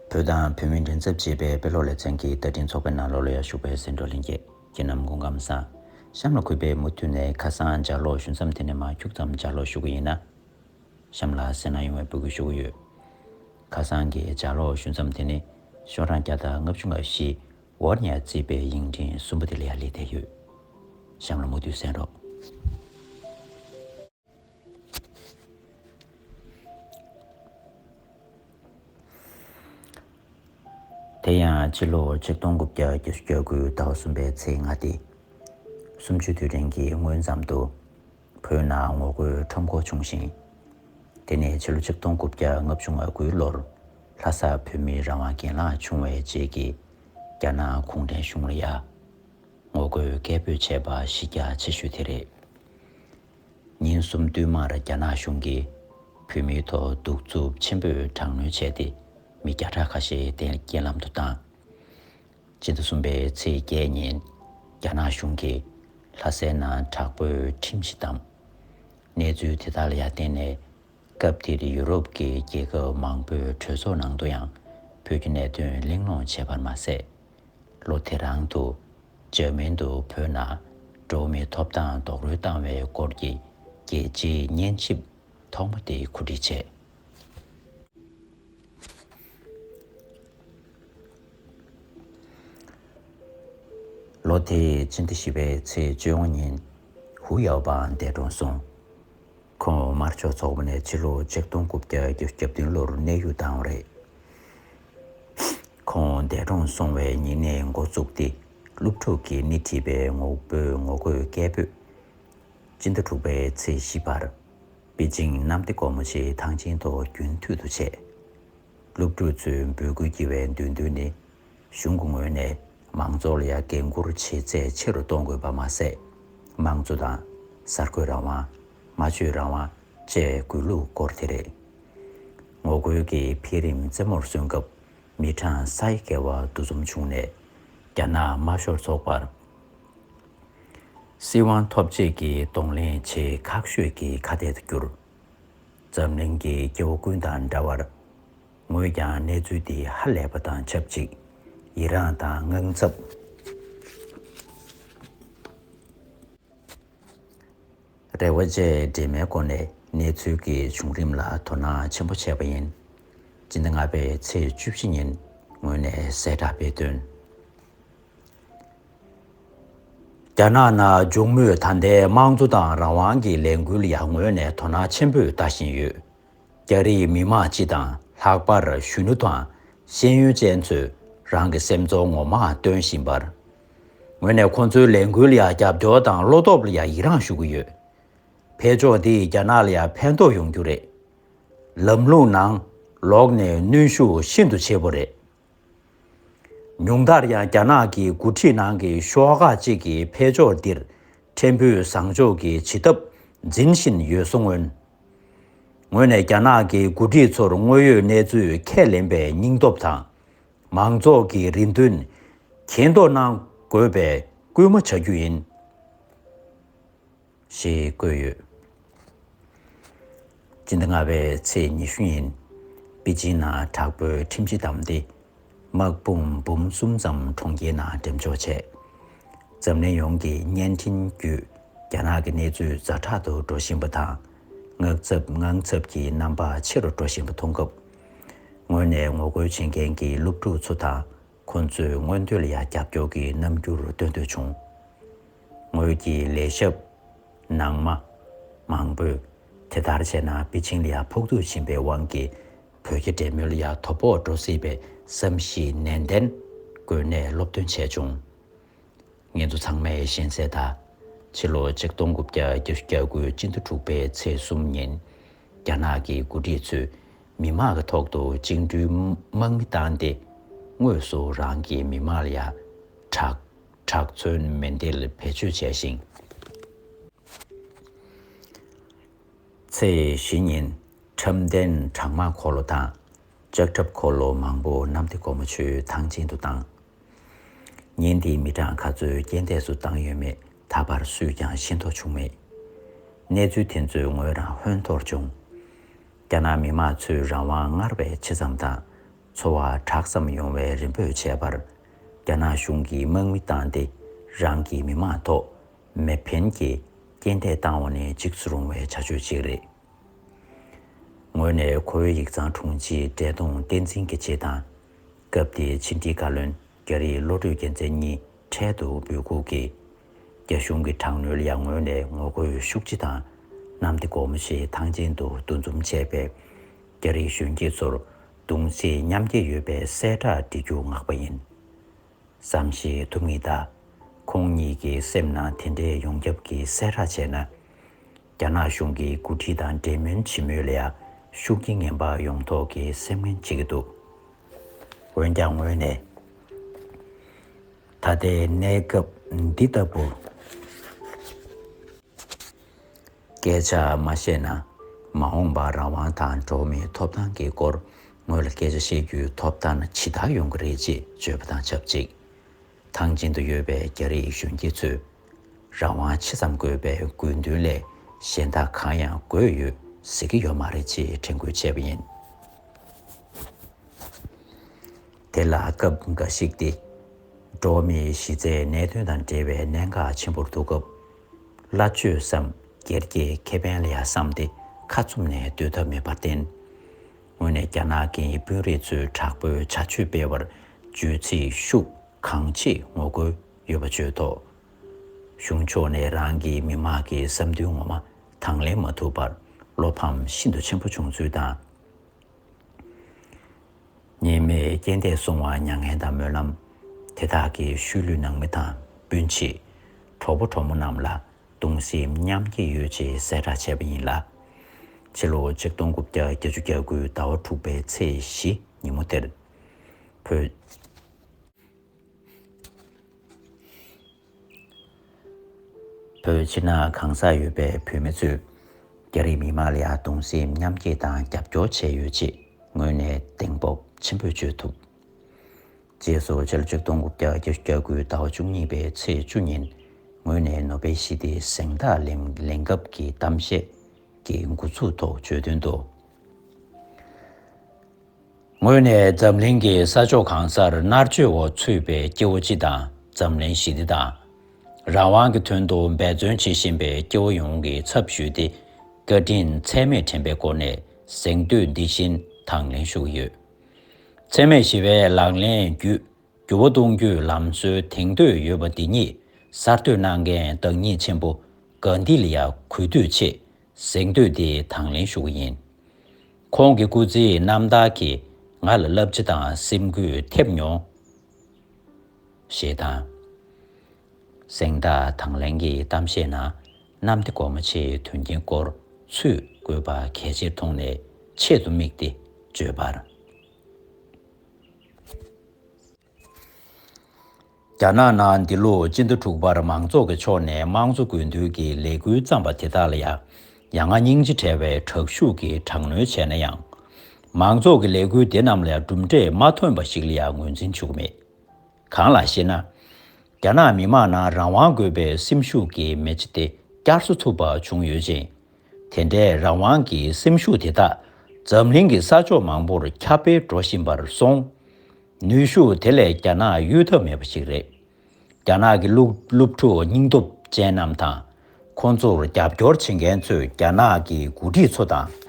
བོད་དང་བོད་མིའི་མགྲིན་ཚབ་ཅེས་པའི་དཔེ་ཀློག་ལེ་ཚན་གྱི་བསྟར་འཕྲིན་ཚོགས་པའི་ནང་ལོ་ལོ་ཡར་ཞུགས་པའི་སེང་འབྲོག་གླིང་རྒྱལ་ཁྱེད་རྣམས་མགོ་འགམ་བཟང། གཤམ་ལ་གུས་པས་མུ་མཐུད་ནས་ཁ་སང་ལྗགས་ཀློག་ཞུ་མཚམས་དེ་ནས་མ་འཁྱུག་ཙམ་ལྗགས་ཀློག་ཞུ་གི་ཡིན་ན། གཤམ་ལ་གསལ་སྣང་ཡོང་བའི་འབོད་སྐུལ་ཞུ་གི་ཡོད། ཁ་སང་གི་ལྗགས་ཀློག་ཞུ་མཚམས་དེ་ནི་ཤོག་གྲངས་བརྒྱ་དང་ལྔ་བཅུ་ང་བཞི། ཝོར་ནེ་ཡར་བརྩིས་པའི་དབྱིངས་འབྲིང་གསུམ་པོ་དེ་ལ་ཡར་སླེབས་བསྡད་ཡོད། གཤམ་ལ་མུ་མཐུད་གསན་རོགས། དེ་ཡང་སྤྱི་ལོ་ཆིག་སྟོང་དགུ་བརྒྱ་བརྒྱད་ཅུ་གྱ་དགུའི་ཟླ་བ་གསུམ་པའི་ཚེས་ལྔ་སྟེ་སུམ་ཅུ་དུས་དྲན་གྱི་སྔོན་མཚམས་དུ་བོད་ནང་ངོ་རྒོལ་ཁྲོམ་སྐོར་བྱུང་ཞིང། དེ་ནས་ཕྱི་ལོ་ཆིག་སྟོང་དགུ་བརྒྱ་ལྔ་བཅུ་ང་དགུའི་ལོར་ལྷ་ས་བོད་མིའི་རང་དབང་གྱེན་ལངས་བྱུང་བའི་རྗེས་ཀྱི་རྒྱ་ནག་གུང་ཁྲན་གཞུང་ལ་ཡང་ངོ་རྒོལ་སྐད་འབོད་བྱས་པ་གཞི་རྒྱ་ཆེ་ཤོས་དེ་རེད། ཉིན་གསུམ་བསྟུད་མར་རྒྱ་ནག་གཞུང་གིས་བོད་མིའི་ཐོག་གདུག་རྩུབ་ཆེན་པོས་དྲག་གནོན་བྱས་ཏེ་མི་བརྒྱ་ཕྲག་ཁ་ཤས་གཏན་རྐྱེན་ལམ་དུ་བཏང། ཕྱི་ཟླ་གསུམ་པའི་ཚེས་བརྒྱད་ཉིན་རྒྱ་ནག་གཞུང་གིས་ལྷ་སའི་ནང་དྲག་པོའི་ཁྲིམས་གཞི་བཏང། གནས་ཚུལ་དེ་དག་ལ་ཡར་བརྟེན་ནས་སྐབས་དེར་ཡུ་རོབ་ཀྱི་རྒྱལ་ཁབ་མང་པོའི་གྲོས་ཚོགས་ནང་དུ་ཡང་བོད་ཀྱི་གནད་དོན་གླེང་སློང་བྱས་པར་མ་ཟད། ལོ་དེ་རང་དུ་འཇར་མན་དུ་བོད་ནང་འགྲོ་བ་མིའི་ཐོབ་ཐང་རྡོག་རོལ་བཏང་བའི་སྐོར་གྱི་རྒྱལ་སྤྱིའི་སྙན་ཞིབ་ཐོག་མ་དེ་གོ་སྒྲིག་བྱས། ལོ་དེའི་ཕྱི་ཟླ་བཞི་པའི་ཚེས་བཅུ་དབྱང་ཉིན་ཧུའུ་ཡའོ་པའང་འདས་གྲོངས་སོང། ཁོང་དམར་ཕྱོགས་ཚོགས་པ་ནས་ཕྱི་ལོ་ཆིག་སྟོང་དགུ་བརྒྱ་བརྒྱད་ཅུ་གྱ་བདུན་ལོར་གནས་དབྱུག་བཏང་བ་རེད། ཁོང་འདས་གྲོངས་སོང་བའི་ཉིན་ནས་འགོ་བཙུགས་ཏེ་སློབ་ཕྲུག་གི་སྣེ་ཁྲིད་པའི་ངོ་བོས་ངོ་རྒོལ་སྐད་འབོད། སྤྱི་ཟླ་དྲུག་པའི་ཚེས་བཞི་བར། པེ་ཅིང་གནམ་བདེ་སྒོ་མོ་ཆེའི་ཐང་ཆེན་ཐོག་རྒྱུན་མཐུད་དུ་བྱས། སློབ་ཕྲུག་ཚོའི་འབོད་སྐུལ་བགྱི་བའི་འདོད་འདུན་ནི། གཞུང་གི་ངོས་ནས་མང་ཚོགས་ལ་ཡང་འགན་འཁུར་བྱེད་ཚད་ཆེ་རུ་གཏོང་དགོས་པ་མ་ཟད། དམངས་གཙོ་དང། གསར་འགོད་རང་དབང། སྨྲ་བརྗོད་རང་དབང་བཅས་དགོས་ལུགས་སྐོར་དེ་རེད། ངོ་རྒོལ་གྱི་འཕེལ་རིམ་རྩེ་མོར་སོན་སྐབས་མི་གྲངས་ས་ཡི་བརྒལ་བ་འདུ་འཛོམས་བྱུང་ནས། རྒྱ་ནག་དམར་ཤོག་ཚོགས་པར་སྲིད་དབང་ཐོབ་རྗེས་ཀྱི་གདོང་ལེན་བྱེད་ཁག་ཤོས་ཀྱི་ཁ་གཏད་དུ་གྱུར། འཛམ་གླིང་གི་སྐྱེ་བོ་ཀུན་དང་འདྲ་བར། ངོས་ཀྱང་གནས་ཚུལ་འདི་ཧ་ལས་པ་དང་ཆབས་ཅིག་ཡི་རངས་དང་དངངས་འཚབ། རེ་བ་བཅས་འདྲེས་མའི་སྒོ་ནས་གནས་ཚུལ་གྱི་བྱུང་རིམ་ལ་དོ་སྣང་ཆེན་པོ་བྱས་པ་ཡིན། སྤྱི་ཟླ་ལྔ་པའི་ཚེས་བཅུ་བཞི་ཉིན་ངོས་ནས་གསལ་བསྒྲགས་སྤེལ་དོན། རྒྱ་ནག་ནང་འབྱུང་མུས་ད་ལྟའི་དམངས་གཙོ་དང་རང་དབང་གི་ལས་འགུལ་ཡར་ངོས་ནས་དོ་སྣང་ཆེན་པོས་ལྟ་བཞིན་ཡོད། རྒྱ་རིགས་མི་མང་སྤྱི་དང་ལྷག་པར་གཞོན་ནུ་དང་ཤེས་ཡོན་ཅན་ཚོས་རང་གི་སེམས་ཚོར་ངོ་མ་སྟོན་བཞིན་པར། ངོས་ནས་ཁོང་ཚོའི་ལས་འགུལ་ལ་རྒྱབ་སྐྱོར་དང་བློ་སྟོབས་ལ་ཡང་ཡི་རངས་ཞུ་གི་ཡོད། འཕེལ་ཕྱོགས་འདིས་རྒྱ་ནག་ལ་ཡང་ཕན་ཐོགས་ཡོང་རྒྱུ་རེད། ལམ་ལུགས་ནང་ལོགས་ནས་གནོན་ཤུགས་ཤིན་ཏུ་ཆེ་པོ་རེད། ཉུང་མཐར་ཡང་རྒྱ་ནག་གི་འགོ་ཁྲིད་ནང་གི་ཤོག་ཁག་ཅིག་གིས་འཕེལ་ཕྱོགས་འདིར་ཕྲན་བུ་བཟང་ཕྱོགས་ཀྱི་བྱེད་ཐབས་འཛིན་བཞིན་ཡོད་གསུང། ངོས་ནས་རྒྱ་ནག་གི་འགོ་ཁྲིད་ཚོར་དངོས་ཡོད་གནས་ཚུལ་ཁས་ལེན་པའི་སྙིང་སྟོབས་དང། མང་ཚོགས་ཀྱི་རེ་འདུན་གྱེན་ལྡོག་གནང་དགོས་པའི་སྐུལ་མ་བྱ་རྒྱུ་ཡིན། ཞེས་བཀོད་ཡོད། སྤྱི་ཟླ་ལྔ་པའི་ཚེས་ཉི་ཤུ་ཉིན་པེ་ཅིན་ན་དྲག་པོའི་ཁྲིམས་གཞི་བསྡམས་ཏེ་དམག་དཔུང་འབུམ་གསུམ་ཙམ་གྲོང་ཁྱེར་ནང་འགྲེམས་འཇོག་བྱས། འཛམ་གླིང་ཡོངས་ཀྱི་བརྙན་འཕྲིན་བརྒྱུད་རྒྱ་ནག་གི་གནས་ཚུལ་རྫ་དྲག་ཏུ་འགྲོ་བཞིན་པ་དང་ངག་འཚབ་དངངས་འཚབ་ཀྱི་རྣམ་པ་ཆེ་རུ་འགྲོ་བཞིན་པ་མཐོང་སྐབས། ངོས་ནས་ངོ་རྒོལ་བྱེད་མཁན་གྱི་སློབ་ཕྲུག་ཚོ་དང་ཁོ་ཚོས་སྔོན་དུས་ལ་ཡང་རྒྱབ་སྐྱོར་གྱི་རྣམ་འགྱུར་སྟོན་འདོད་བྱུང། ངོས་ཀྱི་ལས་ཞབས། ནང་མ། མང་པོས། དེ་ལྟར་བྱས་ན་པེ་ཅིང་ལ་ཡང་ཕོག་ཐུག་ཕྱིན་པའི་དབང་གིས་བོད་ཀྱི་འབྲེལ་མོལ་ལ་ཡང་དོ་ཕོག་འགྲོ་སྲིད་པའི་བསམ་གཞིག་ནན་ཏན་སྒོས་ནས་སློབ་སྟོན་བྱས་བྱུང། ངེད་ཚོ་ཚང་མས་གཞན་བསད་ད། ཕྱི་ལོ་ཆིག་སྟོང་དགུ་བརྒྱ་བརྒྱ་བཅུ་གྱ་དགུའི་སྤྱི་ཟླ་དྲུག་པའི་ཚེས་གསུམ་ཉིན། རྒྱ་ནག་གི་འགོ་ཁྲིད་ཚོས་མི་མང་གི་ཐོག་ཏུ་བཅིངས་འགྲོལ་དམག་མི་བཏང་སྟེ། དངོས་སུ་རང་གི་མི་མང་ལ་ཡང་དྲག་དྲག་མཚོན་མེ་མདེལ་བེད་སྤྱོད་བྱས་ཤིང། ཚེས་བཞི་ཉིན་ཁྲབ་མདན་དྲག་དམག་འཁོར་ལོ་དང་ལྕགས་ཁྲབ་འཁོར་ལོ་མང་པོ་གནམ་བདེ་སྒོ་མོ་ཆུའི་ཐང་ཆེན་དུ་བཏང། ཉིན་དེའི་མི་གྲངས་ག་ཚོད་རྐྱེན་འདས་སུ་བཏང་ཡོད་མེད་ད་བར་སུས་ཀྱང་ཤེས་རྟོགས་བྱུང་མེད། གནས་ཚུལ་དེ་ཚོས་ངོས་རང་ཧོན་ཐོར་བྱུང། རྒྱ་ནག་མི་དམངས་ཚོའི་རང་དབང་སྔར་བས་ཆེ་ཙམ་དང་འཚོ་བ་དྲག་ཙམ་ཡོང་བའི་རེ་འབོད་བྱས་པར། རྒྱ་ནག་གཞུང་གིས་དམག་མི་བཏང་སྟེ་རང་གི་མི་དམངས་ཐོག་མེ་འཕེན་གྱིས་རྐྱེན་འདས་བཏང་བ་ནི་འཇིགས་སུ་རུང་བའི་བྱ་སྤྱོད་ཅིག་རེད། ངོས་ནས་ཁོ་བོའི་ཡིག་ཚང་དྲུང་ཆེ་བཀྲས་མཐོང་བསྟན་འཛིན་གྱི་ཆེད་དང། སྐབས་དེའི་ཕྱི་འབྲེལ་བཀའ་བློན་རྒྱ་རི་བློ་གྲོས་རྒྱལ་མཚན་གཉིས་འཕྲལ་དུ་འབོད་འགུག་གིས། རྒྱ་གཞུང་གི་དྲག་གནོན་ལ་ངོས་ནས་ངོ་རྒོལ་ཤུགས་ཆེ་དང། གནམ་བདེ་སྒོ་མོ་ཆེའི་ཐང་ཆེན་དུ་འདུ་འཛོམས་བྱས་པས། རྒྱ་རིགས་གཞོན་སྐྱེས་ཚོར་གདུང་བརྩེ་མཉམ་སྐྱེད་ཡོད་པའི་གསལ་བསྒྲགས་འབྲི་རྒྱུ་བསྔགས་པ་ཡིན། བསམ་ཤེས་ཐུབ་ངེས་གདའ། ཁོང་གཉིས་ཀྱི་སེམས་ནང་དེ་འདྲའི་ཡོངས་ཁྱབ་ཀྱི་གསལ་བསྒྲགས་བྱས་ན། རྒྱ་ནག་གཞུང་གི་འགོ་ཁྲིད་དང་འབྲེལ་མོལ་བྱེད་མུས་ལ་ཤུགས་རྐྱེན་ངན་པ་ཡོང་དོགས་ཀྱི་སེམས་ངན་བྱེད་ཀྱི་འདུག་འོན་ཀྱང་ངོས་ནས་ད་ལྟའི་གནས་སྐབས་འདི་ལྟ་བུར་སྐད་ཆ་མ་བཤད་ན་མ་འོངས་པར་རང་དབང་དང་འགྲོ་བ་མིའི་ཐོབ་ཐང་གི་སྐོར་ངོས་ལ་སྐད་ཆ་བཤད་རྒྱུའི་ཐོབ་ཐང་ཇི་ལྟར་ཡོང་གི་རེད་ཅེས་བརྗོད་པ་དང་ཆབས་ཅིག་ཐང་ཆེན་དུ་ཡོད་པའི་རྒྱ་རིགས་གཞོན་སྐྱེས་ཚོས་རང་དབང་ཆེ་ཙམ་དགོས་པའི་དགོས་འདུན་ལས་གཞན་དག་གང་ཡང་དགོས་ཡོད་ཟེར་གྱི་ཡོད་མ་རེད་ཅེས་དྲན་སྐུལ་བྱས་པ་ཡིན། དེ་ལ་སྐབས་འགའ་ཞིག་སྟེ། འགྲོ་བ་མིའི་གཞི་རྩའི་གནད་དོན་དང་འབྲེལ་བའི་གནད་འགག་ཆེན་པོར་འདུག་སྐབས། སླ་བཅོས་སམ་སྒེར་གྱི་ཁེ་ཕན་ལ་ཡང་བསམ་སྟེ་ཁ་ཚུམས་ནས་སྡོད་ཐབས་མེད་པར་བརྟེན། ངོས་ནས་རྒྱ་ནག་གི་དཔོན་རིགས་ཚོས་དྲག་པོའི་བྱ་སྤྱོད་སྤེལ་བར་བརྗོད་ཚིག་ཤུགས་གང་ཆེ་ངོ་རྒོལ་ཡོད་པ་བརྗོད་ཐོག་གཞུང་ཕྱོགས་ནས་རང་གི་མི་དམངས་ཀྱི་བསམ་འདུན་ངོ་མ་དང་ལེན་མ་ཐུབ་པར་བློ་ཕམ་ཤིན་ཏུ་ཆེན་པོ་བྱུང་ཚུལ་དང། ཉེས་མེད་རྐྱེན་འདས་སོང་བར་མྱ་ངན་དང་སྨོན་ལམ། དེ་དག་གི་ཤུལ་ལུས་ནང་མི་དང་སྤུན་མཆེད། གྲོགས་པོ་གྲོགས་མོ་རྣམས་ལ་གདུང་སེམས་མཉམ་སྐྱེད་ཡོད་ཅེས་གསལ་བསྒྲགས་བྱས་པ་ཡིན་ལ། ཕྱི་ལོ་ཆིག་སྟོང་དགུ་བརྒྱ་བརྒྱད་ཅུ་གྱ་དགུའི་ཟླ་བ་དྲུག་པའི་ཚེས་བཞི་ཉིན་མོ་དེར། བོད། བོད་ཕྱི་ནང་གང་སར་ཡོད་པའི་བོད་མི་ཚོས་རྒྱ་རིགས་མི་དམངས་ལ་གདུང་སེམས་མཉམ་སྐྱེད་དང་རྒྱབ་སྐྱོར་བྱས་ཡོད་ཅེས་ངོས་ནས་གདེང་སྤོབས་ཆེན་པོས་བརྗོད་ཐུབ། རྗེས་སུ་ཕྱི་ལོ་ཆིག་སྟོང་དགུ་བརྒྱ་བརྒྱད་ཅུ་གྱ་དགུའི་ཟླ་བ་བཅུ་གཉིས་པའི་ཚེས་བཅུ་ཉིན་ངོས་ནས་ནོ་སྦེལ་ཞི་བདེའི་གཟེངས་རྟགས་ལེན་ལེན་སྐབས་ཀྱི་གཏམ་བཤད་ཀྱི་འགོ་ཚུགས་ཐོག་བརྗོད་དོན་དུ། ངོས་ནས་འཛམ་གླིང་གི་ས་ཕྱོགས་གང་སར་མནར་གཅོད་འོག་ཚུད་པའི་སྐྱེ་བོ་སྤྱི་དང་འཛམ་གླིང་ཞི་བདེ་དང། རང་དབང་གི་དོན་དུ་འབད་བརྩོན་བྱེད་བཞིན་པའི་སྐྱེ་བོ་ཡོངས་ཀྱི་ཚབ་ཞུས་ཏེ་བཀའ་དྲིན་ཚད་མེད་དྲན་པའི་སྒོ་ནས་གཟེངས་བསྟོད་འདི་བཞིན་དང་ལེན་ཞུ་གི་ཡོད། འཚེ་མེད་ཞི་བའི་ལག་ལེན་བརྒྱུད་འགྱུར་བ་གཏོང་རྒྱུའི་ལམ་སྲོལ་དེང་དུས་ཡོད་པ་འདི་ཉིད་གསར་གཏོད་གནང་མཁན་བདག་ཉིད་ཆེན་པོ་གྷནྡྷི་ལ་ཡང་གུས་འདུད་ཆེས་གཟེངས་བསྟོད་འདི་དང་ལེན་ཞུ་བ་ཡིན། ཁོང་གི་སྐུ་ཚེའི་རྣམ་ཐར་གྱིས་ང་ལ་བསླབ་བྱ་དང་སེམས་འགུལ་ཐེབས་མྱོང། ཞེས་དང། གཟེངས་རྟགས་དང་ལེན་གྱི་གཏམ་བཤད་ན་གནམ་བདེ་སྒོ་མོ་ཆེའི་དོན་རྐྱེན་སྐོར་ཚུད་དགོས་པ་གལ་ཆེར་མཐོང་ནས་ཆེད་དུ་དམིགས་ཏེ་བརྗོད་པར། རྒྱ་ནག་ནང་འདི་ལོ་སྤྱི་ཟླ་དྲུག་པར་མང་ཚོགས་ཀྱི་ཕྱོགས་ནས་དམངས་གཙོ་དགོས་འདུན་གྱི་ལས་འགུལ་བརྩམས་པ་དེ་དག་ལ་ཡང་ཡ་ང་སྙིང་རྗེ་བྲལ་བའི་དྲག་ཤུགས་ཀྱིས་དྲག་གནོན་བྱས་ན་ཡང། མང་ཚོགས་ཀྱི་ལས་འགུལ་དེ་རྣམས་ལ་ཡང་གྲུབ་འབྲས་མ་ཐོན་པ་ཞིག་ལ་ཡང་ངོས་འཛིན་བྱེད་ཀྱི་མེད། གང་ལགས་ཤེ་ན། རྒྱ་ནག་མི་མང་ནང་རང་དབང་དགོས་པའི་སེམས་ཤུགས་ཀྱི་མེ་ལྕེ་དེ་བསྐྱར་གསོ་ཐུབ་པ་བྱུང་ཡོད་ཅིང། དེ་འདྲའི་རང་དབང་གི་སེམས་ཤུགས་དེ་དག་འཛམ་གླིང་གི་ས་ཕྱོགས་མང་པོར་ཁྱབ་སྤེལ་འགྲོ་བཞིན་པར་སོང། ནུས་ཤུགས་དེ་ལས་རྒྱ་ནག་གཡོལ་ཐབས་མེད་པ་ཞིག་རེད། རྒྱ་ནག་གི་སློབ་ཕྲུག་སྙིང་སྟོབས་ཅན་རྣམས་དང། ཁོང་ཚོར་རྒྱབ་སྐྱོར་བྱེད་མཁན་ཚོས་རྒྱ་ནག་གི་འགོ་ཁྲིད་ཚོ་དང།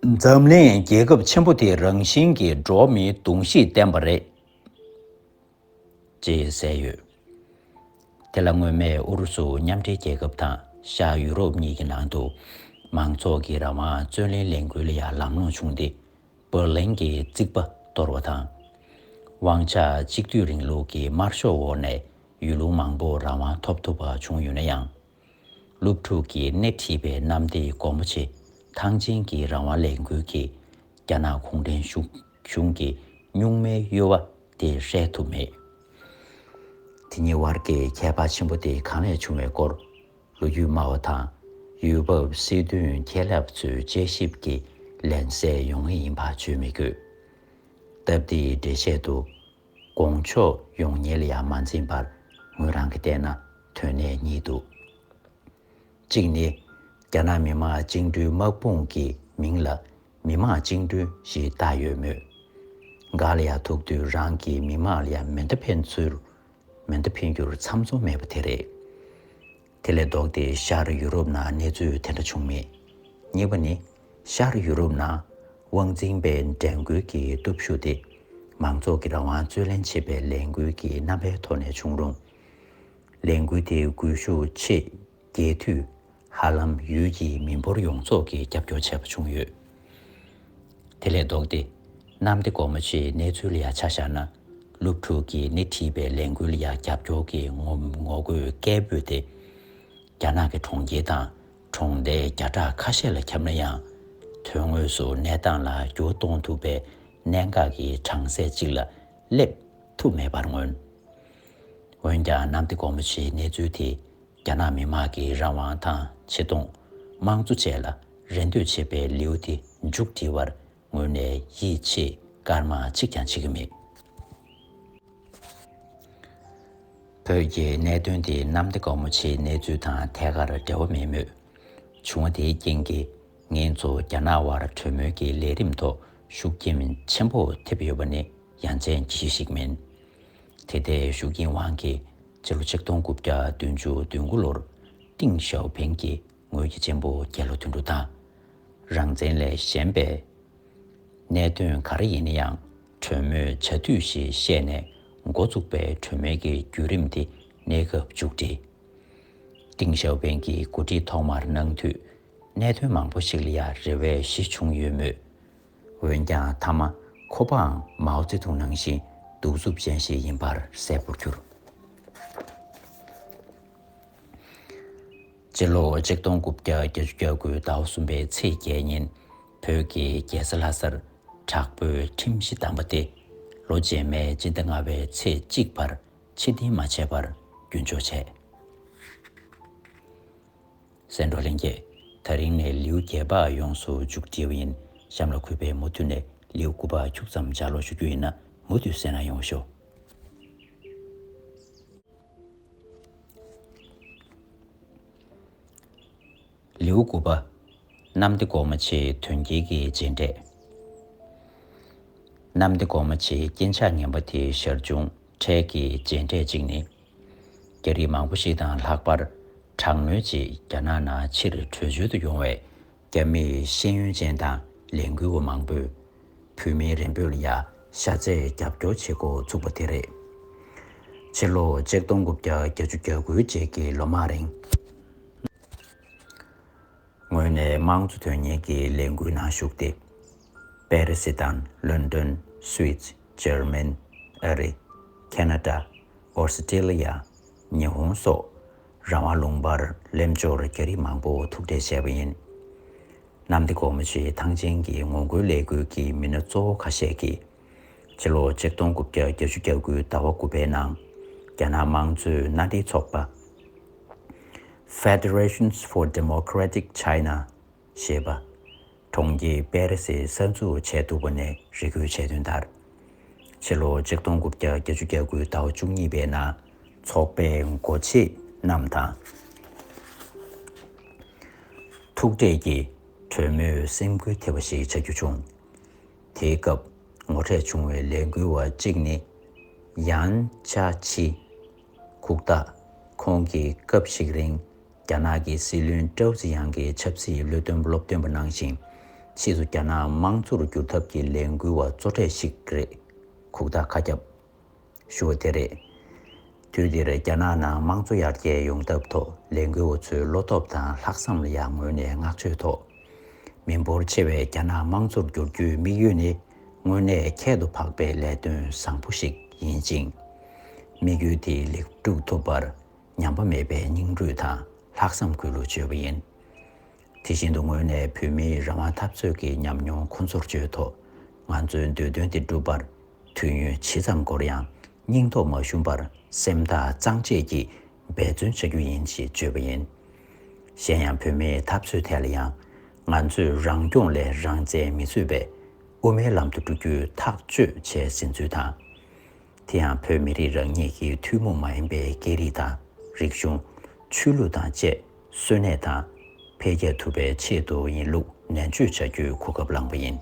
འཛམ་གླིང་རྒྱལ་ཁབ་ཆེན་པོ་དེ་རང་བཞིན་གྱིས་འགྲོ་མིའི་གདུང་ཤུགས་ལྡན་པ་རེད། ཅེས་གསལ་ཡོད། དེ་ལ་སྔོན་མའི་ཨུ་རུ་སུ་མཉམ་འབྲེལ་རྒྱལ་ཁབ་དང་ཤར་ཡུ་རོབ་གཉིས་ཀྱི་ནང་དུ་མང་ཚོགས་ཀྱི་རང་དབང་རྩོད་ལེན་ལས་འགུལ་ལ་ཡང་ལམ་ལྷོངས་བྱུང་སྟེ་བྷར་ལིན་གྱི་རྩིག་པ་གཏོར་བ་དང། དབང་ཆ་གཅིག་སྡུད་རིང་ལུགས་ཀྱི་དམར་ཤོག་འོག་ནས་ཡུལ་ལུང་མང་པོ་རང་དབང་ཐོབ་ཐུབ་པ་བྱུང་ཡོད་ན་ཡང། སློབ་ཕྲུག་གིས་སྣེ་ཁྲིད་པའི་གནམ་སྡེ་སྒོ་མོ་ཆེ་ཐང་ཆེན་གྱི་རང་དབང་ལས་འགུལ་གྱིས་རྒྱ་ནག་གུང་ཁྲན་གཞུང་གི་གཉུག་མའི་གཡོ་བ་དེ་ཧྲལ་ཐུབ་མེད། དེ་གཉིས་དབར་གྱི་ཁྱད་པར་ཆེན་པོ་དེ་གང་ལས་བྱུང་བའི་སྐོར་ལོ་རྒྱུས་སྨྲ་བ་དང་ཡུལ་བབ་སྲིད་དོན་མཁས་ལབ་ཚོའི་དཔྱད་ཞིབ་ཀྱིས་ལན་གསལ་ཡོང་ངེས་ཡིན་པ་བརྗོད་མི་དགོས། སྟབས་བདེའི་འགྲེལ་བཤད་དུ། དགོངས་ཕྱོགས་ཡོངས་ཉེལ་ཡང་མ་འཛིན་པར་ངོས་རང་གིས་བལྟས་ན་དོན་གནད་གཉིས་འདུག་གཅིག་ནི། རྒྱ་ནག་མི་དམངས་བཅིངས་འགྲོལ་དམག་དཔུང་གི་མིང་ལ་མི་དམངས་བཅིངས་འགྲོལ་ཞེས་བཏགས་ཡོད་མོད། འགའ་ལ་ཡང་ཐུག་དུས་རང་གི་མི་དམངས་ལ་མེ་མདའ་འཕེན་ཚུལ་མེ་མདའ་འཕེན་རྒྱུར་ཚམ་ཚོམ་མེད་པ་དེ་རེད། དེ་ལས་ལྡོག་སྟེ་ཤར་ཡུ་རོབ་ན་གནས་ཚུལ་དེ་འདྲ་བྱུང་མེད། གཉིས་པ་ནི། ཤར་ཡུ་རོབ་ན། དབང་འཛིན་པས་འགྲན་རྒོལ་གྱི་སྟོབས་ཤུགས་དེ། མང་ཚོགས་ཀྱི་རང་དབང་རྩོད་ལེན་བྱེད་པའི་ལས་འགུལ་གྱི་རྣམ་པའི་ཐོག་ནས་བྱུང་རུང། ལས་འགུལ་དེའི་སྒུལ་ཤུགས་ཆེས་རྒྱས་དུས། ཧ་ལམ་ཡུལ་གྱི་མི་འབོར་ཡོངས་རྫོགས་ཀྱིས་རྒྱབ་སྐྱོར་བྱས་པ་བྱུང་ཡོད། དེ་ལས་ལྡོག་སྟེ། གནམ་བདེ་སྒོ་མོ་ཆེའི་གནས་ཚུལ་ཡར་ཆ་བཞག་ན། སློབ་ཕྲུག་གིས་སྣེ་ཁྲིད་པའི་ལས་འགུལ་ཡར་རྒྱབ་སྐྱོར་གྱི་ངོ་རྒོལ་སྐད་འབོད་དེ། རྒྱ་ནག་གི་གྲོང་ཁྱེར་དང་གྲོང་བརྡལ་བརྒྱ་ཕྲག་ཁ་ཤས་ལ་ཁྱབ་ན་ཡང། དོན་དངོས་སུ་གནས་སྟངས་ལ་འགྱུར་གཏོང་ཐུབ་པའི་གནད་འགག་གི་གྲངས་ཚད་ཅིག་ལ་སླེབས་ཐུབ་མེད་པར་མངོན། འོན་ཀྱང་གནམ་བདེ་སྒོ་མོ་ཆེའི་གནས་ཚུལ་དེ། རྒྱ་ནག་མི་དམངས་ཀྱི་རང་དབང་དང་ཆེ་མཐོང། དམངས་གཙོ་བཅས་ལ་རེ་འདོད་བྱེད་པའི་ལེའུ་དེ་མཇུག་བསྒྲིལ་བར་ངོས་ནས་ཡིད་ཆེས་སྐར་མ་གཅིག་ཀྱང་བྱེད་ཀྱི་མེད། བོད་རྒྱའི་གནད་དོན་དེ་གནམ་བདེ་སྒོ་མོ་ཆེའི་གནས་ཚུལ་དང་ཐད་ཀར་འབྲེལ་བ་མེད་མོད། བྱུང་བ་དེའི་རྐྱེན་གྱིས་ངེད་ཚོ་རྒྱ་ནག་དབར་གྲོས་མོལ་གྱི་ལས་རིམ་ཐོག་ཤུགས་རྐྱེན་ཆེན་པོ་ཐེབས་ཡོད་པ་ནི་ཡ་མཚན་གྱི་གཞི་ཞིག་མིན། དེ་ལྟའི་ཤུགས་རྐྱེན་དབང་གིས་སྤྱི་ལོ་ཆིག་སྟོང་དགུ་བརྒྱ་བདུན་ཅུ་བདུན་དགུ་ལོར་ཏིང་ཞའོ་ཕིང་གིས་ངོས་ཀྱི་གཅེན་པོ་རྒྱལ་ལོ་དོན་དྲུག་དང། རང་བཙན་ལས་གཞན་པས། གནད་དོན་ག་རེ་ཡིན་ན་ཡང་གྲོས་མོལ་བྱ་དུས་ཞེས་བཤད་ནས་མགོ་བཙུགས་པའི་གྲོས་མོལ་གྱི་བརྒྱུད་རིམ་དེ་གནས་སྐབས་མཇུག་བསྒྲིལ། ཏིང་ཞའོ་ཕིང་གིས་འགོ་ཁྲིད་ཐོག་མར་གནང་དུས་གནད་དོན་མང་པོ་ཞིག་ལ་ཡ་རེ་བའི་གཞི་བྱུང་ཡོད་མོད། འོན་ཀྱང་མཐའ་མ་ཁོ་པའང་མའོ་ཙེ་ཏུང་ནང་བཞིན་གདུག་རྩུབ་ཅན་ཞིག་ཡིན་པར་གསལ་པོར་གྱུར། སྤྱི་ལོ་ཆིག་སྟོང་དགུ་བརྒྱ་བརྒྱད་ཅུ་གྱ་དགུའི་ཟླ་བ་གསུམ་པའི་ཚེས་བརྒྱད་ཉིན་བོད་ཀྱི་རྒྱལ་ས་ལྷ་སར་དྲག་པོའི་ཁྲིམས་གཞི་བསྡམས་པ་སྟེ་ལོ་རྗེས་མའི་སྤྱི་ཟླ་ལྔ་བའི་ཚེས་གཅིག་བར་ཕྱི་བདེན་མ་བྱས་པར་རྒྱུན་འཇོག་བྱས། སེ་འབྲོག་ལྷན་རྒྱས། ཐག་རིང་ནས་ལེའུ་བརྒྱད་པ་ཡོངས་སུ་འཇུག་བགྲེས་པོ་ཡིན་གཤམ་ལ་གུས་པས་མུ་མཐུད་ནས་ལེའུ་དགུ་པ་འཁྱུག་ཙམ་སྦྱར་ཀློག་ཞུ་རྒྱུ་ཡིན་ན་མུ་མཐུད་གསན་ན་ཡོང་ཞོ། ལེའུ་དགུ་པ། གནམ་བདེ་གོང་མ་ཆེའི་དོན་རྒྱལ་གྱི་རྗེས་འབྲས། གནམ་བདེ་གོང་མ་ཆེའི་རྐྱེན་ཆགས་ངན་པ་དེ་ཞར་བྱུང་འཕྲལ་གྱི་རྗེས་འབྲས་གཅིག་ནི། རྒྱ་རིགས་མང་པོ་ཞིག་དང་ལྷག་པར་དྲག་གནོན་རྗེས་རྒྱ་ནག་ནང་ཕྱིར་བྲོས་བྱོལ་དུ་ཡོང་བའི་རྒྱ་མིའི་ཤེས་ཡོན་ཅན་དང་ལས་འགུལ་བ་མང་པོས་བུད་མེད་རེ་འབོད་ལ་ཡ་ཤ་བརྩེས་རྒྱབ་སྐྱོར་བྱེད་འགོ་ཚུགས་པ་དེ་རེད། ཕྱི་ལོ་ཆིག་སྟོང་དགུ་བརྒྱ་གྱ་བཅུ་གྱ་དགུའི་རྗེས་ཀྱི་ལོ་མང་རིང། ངོས་ནས་དམངས་གཙོ་དོན་གཉེར་གྱི་ལས་འགུལ་ནང་ཞུགས་ཏེ། པེ་རི་སི་དང་ལོན་ཏོན། Swiss། འཇར་མན། ཨ་རི། Canada། ཨོ་སི་ཀྲི་ལི་ཡ། ཉི་ཧོང་སོགས་རང་དབང་ལུང་པར་སླེབས་འབྱོར་རྒྱ་རིགས་མང་པོ་ཐུག་འཕྲད་བྱས་པ་ཡིན། གནམ་བདེ་སྒོ་མོ་ཆེའི་ཐང་ཆེན་གྱི་ངོ་རྒོལ་ལས་འགུལ་གྱི་མི་སྣ་གཙོ་བོ་ཁ་ཤས་ཀྱིས། ཕྱི་ལོ་ཆིག་སྟོང་དགུ་བརྒྱ་བརྒྱད་ཅུ་གྱ་དགུའི་ཟླ་བ་དགུ་པའི་ནང་རྒྱ་ནག་དམངས་གཙོའི་མནའ་འབྲེལ་ཚོགས་པ། Federation for Democratic China། ཞེས་པ། གྲོང་ཁྱེར་པེ་རེ་སི་གསར་འཛུགས་བྱས་འདུག་པ་ནས་རེ་སྐུལ་བྱས་དོན་ལྟར། ཕྱི་ལོ་ཆིག་སྟོང་དགུ་བརྒྱ་བརྒྱད་ཅུ་གྱ་དགུའི་ཟླ་བ་བཅུ་གཉིས་པའི་ནང་ཚོགས་པའི་འགོ་བྱེད་རྣམས་དང། ཐུག་འཕྲད་ཀྱིས་གྲོས་མོལ་སེམས་ཁུར་ཐེབས་པ་ཞིག་བྱ་རྒྱུ་བྱུང། དེའི་སྐབས་ངོ་འཕྲད་བྱུང་བའི་ལས་འགུལ་བ་གཅིག་ནི་ཡཱན་ཅ་ཆི། ཁུག་རྟ། ཁོང་གིས་སྐབས་ཤིག་རིང་རྒྱ་ནག་གི་སྲིད་བློན་ཀྲའོ་ཙི་ཡཱང་གི་ཆབ་སྲིད་བློས་བཏོན་སློབ་སྟོན་པ་གནང་ཞིང། ཕྱིས་སུ་རྒྱ་ནག་དམངས་གཙོ་རུ་འགྱུར་ཐབས་ཀྱི་ལས་འགུལ་བ་གཙོ་གྲས་ཤིག་རེད། ཁུག་རྟ་ཁ་རྒྱབ། ཞུ་བ་དེ་རེད། དུས་འདིར་རྒྱ་ནག་ནང་དམངས་གཙོ་ཡར་རྒྱས་ཡོང་ཐབས་ཐོག་ལས་འགུལ་བ་ཚོའི་བློ་སྟོབས་དང་ལྷག་བསམ་ལ་ཡང་ངོས་ནས་བསྔགས་བརྗོད་ཐོག་མི་འབོར་ཆེ་བའི་རྒྱ་ནག་དམངས་གཙོར་བསྒྱུར་རྒྱུའི་དམིགས་ཡུལ་ནི་དངོས་གནས་ཁྱད་དུ་འཕགས་པའི་ལས་དོན་བཟང་པོ་ཞིག་ཡིན་ཅིང། དམིགས་ཡུལ་དེ་ལེགས་འགྲུབ་ཐུབ་པར་ཉམས་པ་མེད་པའི་སྙིང་རུས་དང་ལྷག་བསམ་གུས་ལུགས་བཅོལ་བ་ཡིན། དེ་བཞིན་དུ་ངོས་ནས་བོད་མིའི་རང་དབང་འཐབ་རྩོད་ཀྱི་ཉམས་མྱོང་ཁོང་ཚོར་བརྗོད་ཐོག་ང་ཚོའི་འདོད་དོན་དེ་འགྲུབ་པར་དུས་ཡུན་ཇི་ཙམ་འགོར་ཡང་སྙིང་ཐོག་མ་ཞུམ་པར་སེམས་ཐག་གཙང་བཅད་ཀྱིས་འབད་བརྩོན་བྱ་རྒྱུ་ཡིན་ཞེས་བརྗོད་པ་ཡིན། གཞན་ཡང་བོད་མིའི་འཐབ་རྩོད་ཐད་ལ་ཡང་ང་ཚོས་རང་སྐྱོང་ལས་རང་བཙན་མི་རྩོད་པའི་དབུ་མའི་ལམ་དུ་འགྲོ་རྒྱུའི་ཐག་གཅོད་བྱས་ཟིན་ཚུལ་དང། དེ་ཡང་བོད་མི་རིགས་རང་ཉིད་ཀྱི་ཐུན་མོང་མ་ཡིན་པའི་སྐད་རིགས་དང་རིག་གཞུང། ཆོས་ལུགས་དང་བཅས། གསོན་གནས་དང། འཕེལ་རྒྱས་ཐུབ་པའི་ཆེད་དུ་ཡིན་ལུགས་ནན་བརྗོད་བྱ་རྒྱུའི་གོ་སྐབས་བླངས་པ་ཡིན།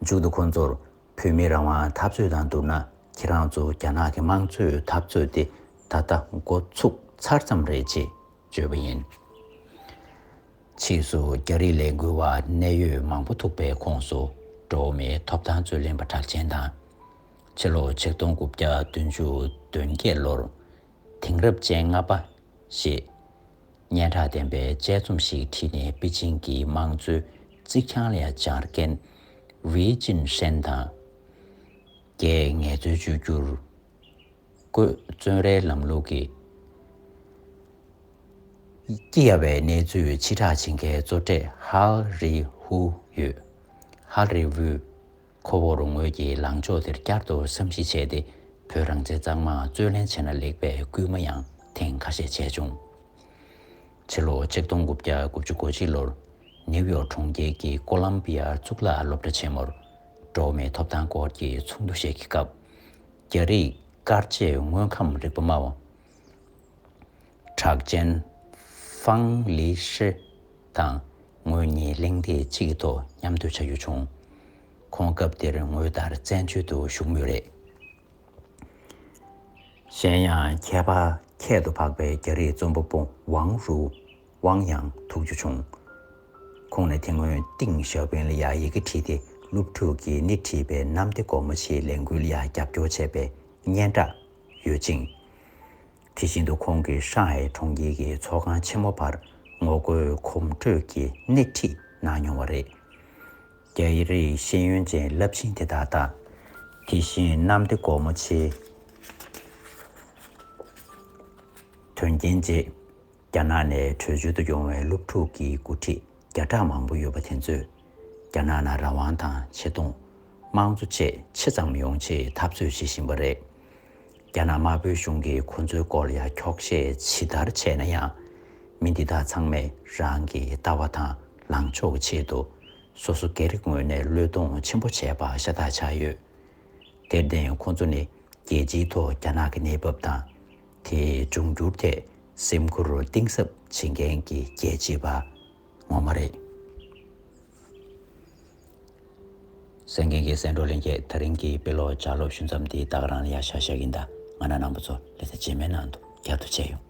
མཇུག་ཏུ་ཁོང་ཚོར་བོད་མིའི་རང་དབང་འཐབ་རྩོད་དང་བསྡུར་ན་ཁྱེད་རང་ཚོ་རྒྱ་ནག་གི་དམངས་གཙོའི་འཐབ་རྩོད་དེ་ད་ལྟ་འགོ་ཚུགས་ཚར་ཙམ་རེད་ཅེས་བརྗོད་པ་ཡིན། ཕྱིས་སུ་རྒྱ་རིགས་ལས་འགུལ་བ་གནད་ཡོད་མང་པོ་ཐུག་པའི་ཁོངས་སུ་འགྲོ་བ་མིའི་ཐོབ་ཐང་རྩོད་ལེན་པ་གྲགས་ཅན་དང། ཕྱི་ལོ་ཆིག་སྟོང་དགུ་བརྒྱ་བདུན་ཅུ་དོན་བརྒྱད་ལོར་དེང་རབས་ཅན་ལྔ་པ། ཞེས་སྙན་གྲགས་ལྡན་པའི་དཔྱད་རྩོམ་ཞིག་བྲིས་ནས་པེ་ཅིང་གི་དམངས་གཙོའི་རྩིག་གྱང་ལ་སྦྱར་མཁན། ཝེ་ཅིན་ཧྲན་དང། རྒྱའི་ངལ་རྩོལ་བཅོས་བསྒྱུར། བཀོད་བརྩོན་རའི་ལམ་ལུགས་ཀྱི། སྐྱི་གཡའ་བའི་གནས་ཚུལ་ཕྱི་བསྒྲགས་བྱེད་མཁན་གཙོ་གྲས་ཧལ་རི་ཧུའུ་ཡོད། Hal Revuo། ཁོ་བོར་ངོས་ཀྱིས་ལངས་ཕྱོགས་དེར་བསྐྱར་དུ་བསམ་གཞིག་བྱས་ཏེ་བོད་རང་བཙན་གཙང་མ་རྩོད་ལེན་བྱས་ན་ལེགས་པའི་སྐུལ་མ་ཡང་ཐེངས་ཁ་ཤས་བྱས་བྱུང། ཕྱི་ལོ་ཆིག་སྟོང་དགུ་བརྒྱ་དགུ་བཅུ་གོ་གཅིག་ལོར་ནེའུ་ཡོག་གྲོང་ཁྱེར་གྱི་ཀོ་ལམ་པི་ཡ་གཙུག་ལག་སློབ་གྲྭ་ཆེན་མོར་འགྲོ་མིའི་ཐོབ་ཐང་སྐོར་གྱི་ཚོགས་འདུ་ཞིག་གི་སྐབས། རྒྱ་རིགས་སྐར་རྗེས་དངོས་ཁམས་རིག་པ་སྨྲ་བ་གྲགས་ཅན། ཧྥང་ལི་ཧྲི་དང་ངོས་གཉིས་གླེང་སྟེགས་གཅིག་གི་ཐོག་མཉམ་སྡོད་བྱ་རྒྱུ་བྱུང། ཁོང་སྐབས་དེར་ངོས་ལྟར་བཙན་བྱོལ་དུ་བཞུགས་མུས་རེད། གཞན་ཡང་ཁྱད་པར་ཁྱད་དུ་འཕགས་པའི་རྒྱ་རིགས་རྩོམ་པ་པོ་ཝང་རུའུ་ཝང་ཡང་ཐུག་རྒྱུ་བྱུང། ཁོང་ནས་དེ་སྔོན་ཏིང་ཞའོ་ཕིན་ལ་ཡང་ཡི་གེ་བྲིས་ཏེ་སློབ་ཕྲུག་གིས་སྣེ་ཁྲིད་པའི་གནམ་བདེ་སྒོ་མོ་ཆེའི་ལས་འགུལ་ལ་ཡང་རྒྱབ་སྐྱོར་བྱས་པའི་སྙན་གྲགས་ཡོད་ཅིང། དེ་བཞིན་དུ་ཁོང་གིས་ཧྲང་ཧའེ་གྲོང་ཁྱེར་གྱི་ཚོགས་ཁང་ཆེན་མོ་བར་ངོ་རྒོལ་གོམ་བགྲོད་ཀྱི་སྣེ་ཁྲིད་གནང་མྱོང་བ་རེད། རྒྱ་རིགས་ཤེས་ཡོན་ཅན་རླབས་ཆེན་དེ་དག་དང། དེ་བཞིན་གནམ་བདེ་སྒོ་མོ་ཆེའི་དོན་རྐྱེན་རྗེས། རྒྱ་ནག་ནས་བྲོས་བྱོལ་དུ་ཡོང་བའི་སློབ་ཕྲུག་གི་འགོ་ཁྲིད་བརྒྱ་ཕྲག་མང་པོ་ཡོད་པ་དེ་ཚོས་རྒྱ་ནག་ནང་རང་དབང་དང་ཆེ་མཐོང། དམངས་གཙོ་བཅས་ཆེ་ཙམ་ཡོང་ཆེད་འཐབ་རྩོད་བྱེད་བཞིན་པ་རེད། རྒྱ་ནག་དམར་པོའི་གཞུང་གིས་ཁོ་ཚོའི་སྐོར་ཡ་འཁྱོག་བཤད་ཇི་ལྟར་བྱས་ན་ཡང། མི་འདི་དག་ཚང་མས་རང་གི་ལྟ་བ་དང་ལངས་ཕྱོགས་ཆེད་དུ་སོ་སོ་སྐད་རིགས་ངོས་ནས་བློས་གཏོང་ཆེན་པོ་བྱས་པ་ཤ་སྟག་ཆགས་ཡོད། དེར་བརྟེན་ཁོ་ཚོ་ནི་རྒྱལ་སྤྱིའི་ཐོག་རྒྱ་ནག་གི་གནས་བབ་དང། དེ་འབྱུང་འགྱུར་ཐད་སེམས་ཁུར་གཏིང་ཟབ་བྱེད་མཁན་གྱི་རྒྱལ་གཅེས་པ་ངོ་མ་རེད། སེང་གེ་འགའི་སེང་འབྲོག་ལེན་སྐད་ཐག་རིང་གི་དཔེ་ཀློག་བྱ་སློབ་ཞུ་མཚམས་དེའི་རྟགས་རང་ལ་ཡར་ཤར་ཤར་གྱི་མདའ་ང་ན་ནང་པ་ཚོ་ལས་ས་རྗེས་མའི་ནང་དུ་རྒྱབ་ཏུ་བཅད་ཡོང།